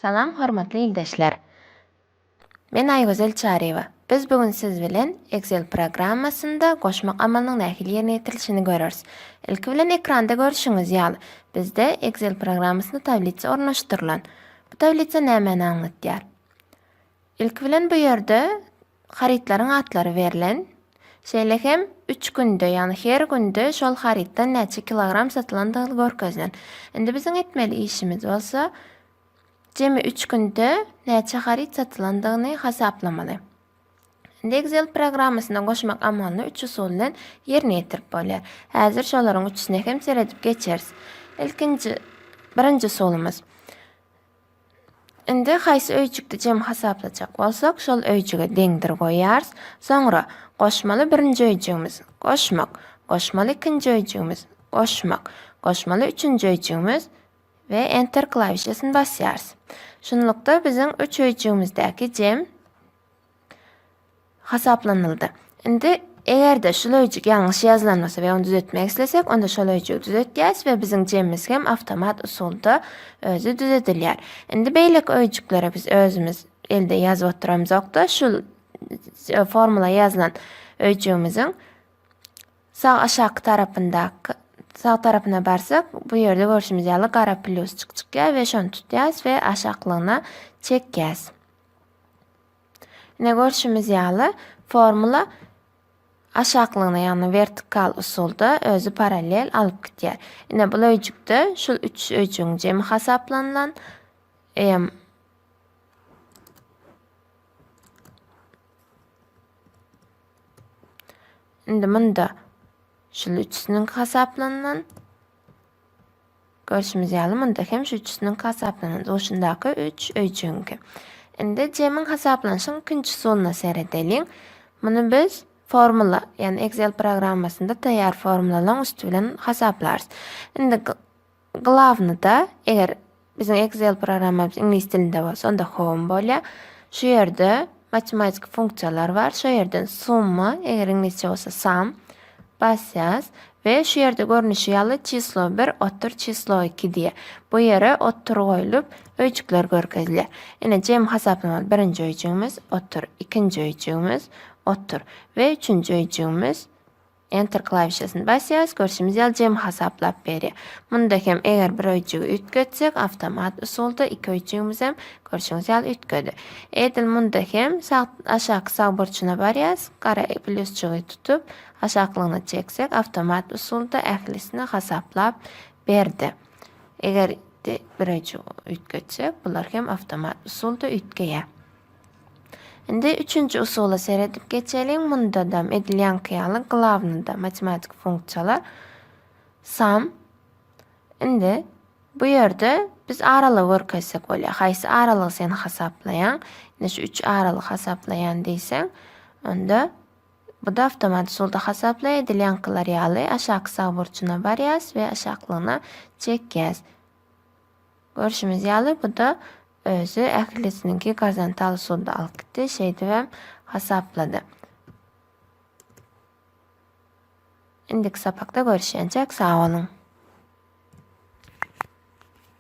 Salam hormatly ildeşler! Men Aýgözel Çaryýewa. Biz bu gün siz bilen Excel programmasynda goşmak amalynyň nähili ýerine ýetirilişini göreris. Ilki bilen ekranda görşüňiz ýaly, bizde Excel programmasynda tablitsa ornaşdyrylan. Bu tablitsa nämäni aňlatýar? Ilki bilen bu ýerde harytlaryň atlary berlen. Şeýle hem üç günde, ýagny her günde şol harytdan näçe kilogram satylandygy görkezilen. Indi biziň etmeli işimiz bolsa, Jemi üç günde näçe haryt satylandygyny hasaplamaly. Indi Excel programmasyna goşmak amalyny üç usul bilen ýerine ýetirip bolýar. Häzir şolaryň üçüsine hem seredip geçeris. Ilkinji, birinji usulymyz. Indi haýsy öýjükde jemi hasaplajak bolsak, şol öýjüge deňdir goýýarys. Soňra goşmaly birinji öýjügimiz, goşmak, goşmaly ikinji öýjügimiz, goşmak, goşmaly üçünji öýjügimiz, we Enter klawişasyny basýarys. Şunlukda biziň üç öýjügimizdäki jem hasaplanyldy. Indi eger-de şul öýjük ýalňyş ýazylan bolsa we ony düzetmek islesek, onda şol öýjügi düzetýäris we biziň jemimiz hem awtomat usulda özi düzedilýär. Indi beýleki öýjüklere biz özümiz elde ýazyp oturamzok-da, şul formula ýazylan öýjügimiziň Sag aşaky tarapyndaky sag tarapyna barsak bu ýerde görşümiz ýaly gara plýusçyk çykýar we şony tutýas we aşaklygyna çekýäs. Ine görşümiz ýaly formula aşaklygyna ýagny vertikal usulda özi parallel alyp gitýär. Ine bu öýjükde şul 3 öýjügiň jemi hasaplanylan em Indi munda şul üçüsiniňki hasaplanan. Görşümiz ýaly munda hem şu üçüsiniňki hasaplanan. Duşundaky 3 öýjüňki. Indi jemiň hasaplanyşyň ikinji usulyna seredeliň. Muny biz formula, ýani Excel programmasynda taýýar formulalaryň üsti bilen hasaplarys. Indi Glawnyda, eger biziň Excel programmamyz iňlis dilinde bolsa, onda Home bolýar. Şu ýerde matematiki funksiýalar bar. Şu ýerden summa, eger iňlisçe bolsa sum basýas we şu ýerde görnüşi ýaly çislo 1, otur çislo 2 diýe. Bu ýere otur goýlup, öýjükler görkezilýär. Ine, jemi hasaplamaly birinji öýjügimiz, otur, ikinji öýjügimiz, otur we üçünji öýjügimiz, Enter klawişasyny basýarys, görşümiz ýaly jemi hasaplap berýär. Munda hem eger bir öýjügi üýtgetsek, awtomat usulda iki öýjügimizem görşüňiz ýaly üýtgedi. Edil munda hem sag aşaky sag burçuna barýarys, gara plýusjygy tutup, aşaklygyna çeksek, awtomat usulda ählisini hasaplap berdi. Eger bir öýjügi üýtgetsek, bular hem awtomat usulda üýtgeýär. Indi üçünji usula seredip geçeliň. Munda-da edilýänki ýaly glawnyda matematik funksiýalar sam. Indi bu ýerde biz aralygy görkezsek bolýar. Haýsy aralygy sen hasaplaýaň? Indi şu üç aralygy hasaplaýan diýseň, onda bu da awtomat usulda hasaplaýar. Edilýänkiler ýaly aşaky sag burçuna barýas we aşaklygyna çekýäs. Görşümiz ýaly bu da Özi ählisiniňki gazantal sudy alyp gitdi, şeýdibem hasaplady. Indiki sapakda görüşýänçäk sag boluň.